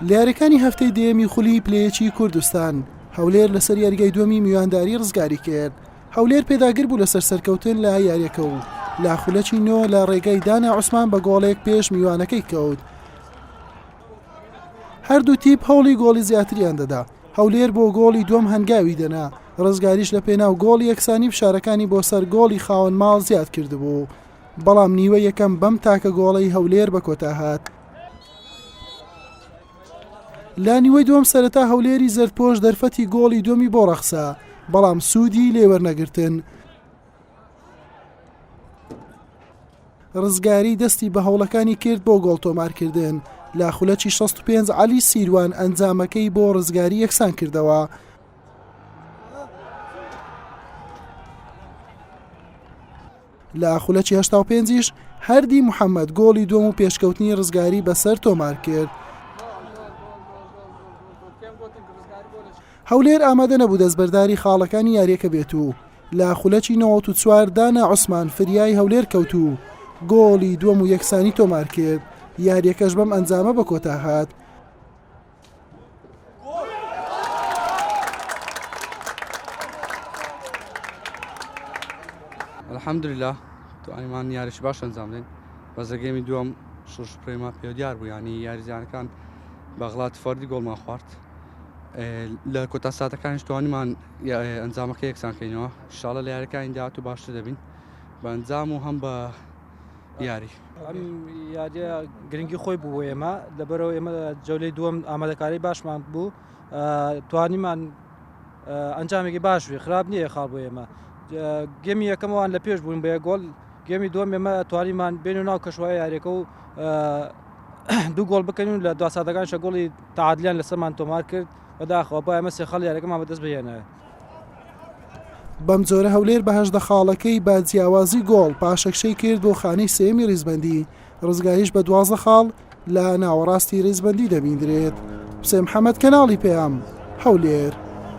لە یاریەکانی هەفتەی دەیەمی خولی پلەیەکی کوردستان هەولێر لەسەر یاریگای دووەمی میوانداری ڕزگاری کرد هەولێر پێداگر بوو لەسەر سەرکەوتن لە یاریەکە و لە خولەکی نۆ لە ڕێگای دانا عوسمان بە گۆڵێک پێش میوانەکەی کەوت هەردوو تیپ هەوڵی گۆڵی زیاتریان دەدا هەولێر بۆ گۆڵی دوم هەنگاوی دەنا ڕزگاریش لە پێناو گۆڵ یەکسانی فشارەکانی بۆ سەر گۆڵی خاوەن ماڵ زیاد کردبوو بەڵام نیوە یەکەم بەم تاکە گۆڵەی هەولێر بە کۆتا هات. لە نیوەی دووەم سەرەتا هەولێری زەردپۆش دەرفەتی گۆڵی دومی بۆ ڕەخسا بەڵام سوودی لێوەرنەگرتن. ڕزگاری دەستی بە هەوڵەکانی کرد بۆ گۆڵ تۆمارکردن لە خولەکی 65 علی سیروان ئەنجامەکەی بۆ ڕزگاری یەکسان کردەوە لە خولەکی هەشتا و پێنجیش هەردی محەمەد گۆڵی دووەم و پێشکەوتنی ڕزگاری بەسەر تۆمار کرد. هەولێر ئامادە نەبوو دەستبەرداری خاڵەکانی یاریەکە بێت و لە خولەکی نەوەت و چوار دانا عوسمان فریای هەولێر کەوت و گۆڵی دووەم و یەکسانی تۆمار کرد یاریەکەش بەم ئەنجامە بە کۆتا هات الحمدللە توانیمان یاریش باش ئەنجام دەین بەزەگەمی دووەم شش پرێما پێ دیار بوو ینی یاریزانەکان بەغڵات فەردی گۆڵمان خوارد لە کۆتا ساتەکانش توانیمان ئەنجامەکە یەکسانکەینەوە شاڵە لە یارەکانی داات و باشتر دەبین بە ئەنجام و هەم بە یاری ئەم یاریە گرنگی خۆی بوو ئێمە لەبەرەوە ئێمە جەولەی دووەم ئامادەکاری باشمان بوو توانیمان ئەنجامێکی باش بێ خراپ نییە خاڵ بۆ ئێمە گەمی یەکەمەوان لە پێش بوون بە گۆڵ گەمی دووەم ئێمە توانیمان بێن و ناو کەشوای یاریەکە و دوو گۆڵ بکەین و لە دواسادەکان شەگۆڵی تاعادلیان لەسەرمان تۆمار کرد بەداخەوە با ئەمە سێ خەڵ یارەکەمان بەدەست بهێنە بەمجۆرە هەولێر بە هەژدە خاڵەکەی بە جیاوازی گۆڵ پاشەکشەی کرد بۆ خانەی سێمی ریزبەندی ڕزگاریش بە دوازە خاڵ لە ناوەڕاستی ریزبەندی دەبیندرێت حسێن حەمەد کەناڵی پەیام هەولێر